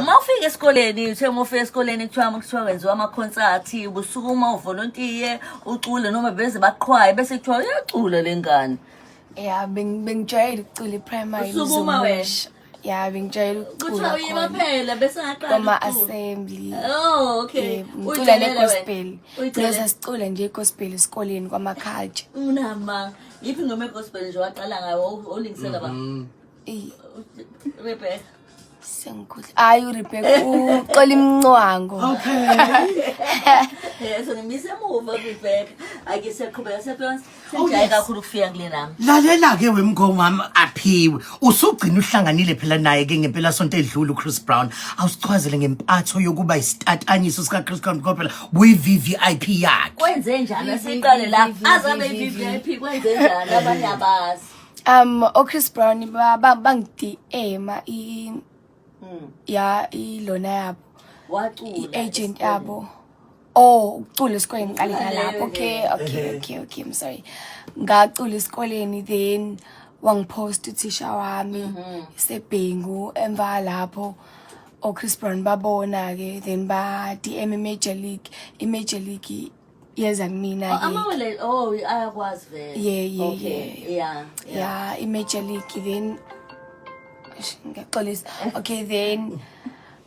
uma ufika esikoleni uthe uma ufika esikoleni kuthiwa kuthiwa wenziwa amakhonsathi ubusukuma uvolontiye ucule noma beze baqhwaye bese kuthiwa uyacula le ngane ya bengijwayele ukucula iprimary Usukuma wena? uzungusha. ya bengijwayele kuthiwa ukucula khona uyimaphela bese ngaqala koma ukucula. assembly Oh, okay. Yebo, ngicula Uyijwayele wena? negospel Uyijwayele? loza sicula nje igospel esikoleni kwamaculture unama yiphi ngoma egospel nje waqala ngayo olingisela ba Eyi, Rebecca. sengikhohle. Hayi uRebecca uxola imncwango. Okay. Eh, so ngimise emuva Rebecca. Ake siyaqhubeka sephela. Oh, Sengijaye yes. kakhulu ukufika kule nami. Lalela ke wemngoma wami aphiwe. Usugcina uhlanganile phela naye ke ngempela sonto edlule uChris Brown. Awusichwazele ngempatho yokuba isitatanyiswa sika Chris Brown kopela buyi VVIP yakhe. Kwenze njani? Asiqale la. Azabe i-VVIP kwenze njani? Abanye abazi. um ochris brown ba- ba- bangidma i Mm. ya ilona yabo Wacula. i-agent yabo oh ukucula esikoleni ngiqale Ucula ngalapho leyo okay ke. okay okay okay i'm sorry ngacula esikoleni then wangipost uthisha wami Mhm. sebhengu emva lapho ochris brown babona-ke then ba-dm i-major league i-major league yeza kumina Oh, ke. amawele oh ayakwazi vele Yeah, yeah, okay. yeah. yeah yeah i-major league then Eish, ngiyaxolisa okay then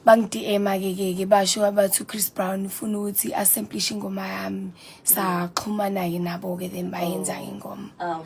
bangidm-a ke ke ke basho abathi uchris brown ufuna ukuthi asamplishe ingoma yami saxhumana-ke nabo-ke then bayenza-ke ingoma awu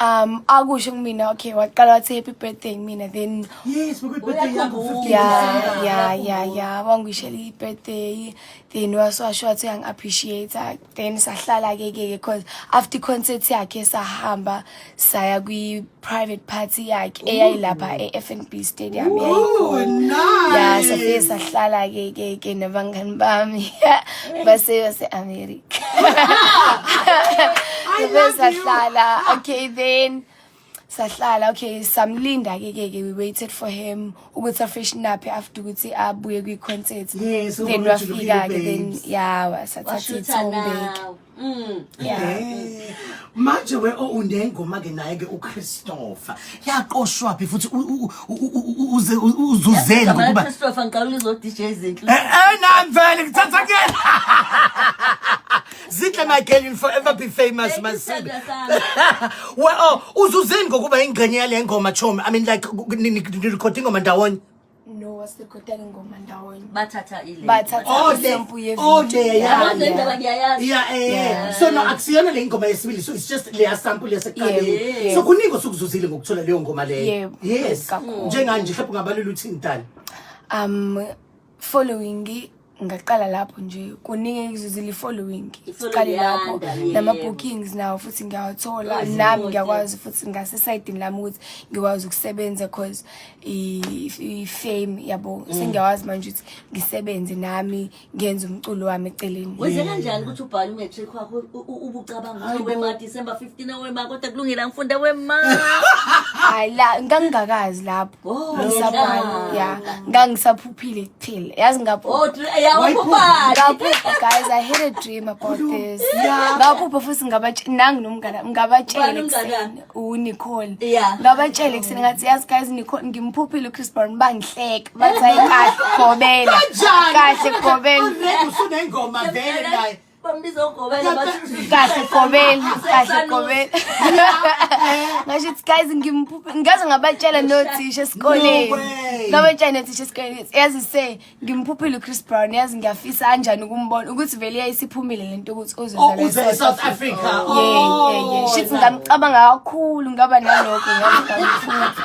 um akusho kumina okay waqala wathi happy birthday mina then yes happy birthday yakho 50 yeah yeah yeah yeah wangishela i birthday then wasasho wathi ang appreciate then sahlala ke ke because after concert yakhe sahamba saya kwi private party yakhe eyayilapha eFNB Stadium oh nice yeah safisa sahlala ke ke ke nabangani bami base base America Bebe sahlala. Okay then. sahlala okay samlinda ke ke we waited for him ukuthi afreshen up after ukuthi abuye kwi concert yes, then wafika ke then yeah wasathatha ithombe mm yeah manje we owunengoma ke naye ke uChristopher yaqoshwa phi futhi uzuzeni ngokuba Christopher ngiqala ulizo DJ Zinhle eh, eh nami vele ngithatha kuyena Zinhle my girl you'll forever be famous masibe well oh, uzuzeni ngokuba ingcenye yale ngoma chomi i mean like ni recording ngoma ndawonye no what's the bathatha ingoma ndawonye bathatha ile bathatha oh, isample ye oh dear yabo nendaba ngiyayazi yeah eh so no akusiyona le ngoma yesibili so it's just le sample yaseqaleni so kuningi osukuzuzile ngokuthola leyo ngoma leyo yes njenganje mhlawumbe ungabalula uthini dala um following ngaqala lapho nje kuningi engizuzile i-following siqale lapho nama-bookings nawo futhi ngiyawathola nami ngiyakwazi futhi ngasesayidini lami ukuthi ngikwazi ukusebenza cause i-fame yabo mm. sengiyawazi manje ukuthi ngisebenze nami ngenze umculo wami eceleni wenze kanjani ukuthi ubhale umetric wakho ubucabanga ukuthi wema december 15 awema kodwa kulungile angifunda wema hayi la ngangingakazi lapho Oh, ngisabhala yeah ngangisaphuphile till yazi ngaphupha oh yawaphupha ngaphupha guys i had a dream about this ngaphupha futhi ngabatshela nangi nomngane ngabatshela ekuseni uNicole ngabatshela ekuseni ngathi yazi guys Nicole ngimphuphile uChris Brown bangihleka bathi ayikahle gobela kahle gobela usune ngoma vele naye Bambiza ugobela bathi kahle gobela kahle gobela ngasho ukuthi guys ngimphuphe ngaze ngabatshela nothisha esikoleni No way. ngabatshela nothisha esikoleni ukuthi yazi se ngimphuphile uchris brown yazi ngiyafisa kanjani ukumbona ukuthi vele yayisiphumile le nto ukuthi Oh, uzozala uze e-South e-South Africa. Oh, Yeah, yeah, yeah. Shit, yeah. ngamcabanga kakhulu ngaba nalokho ngaze ngamphupha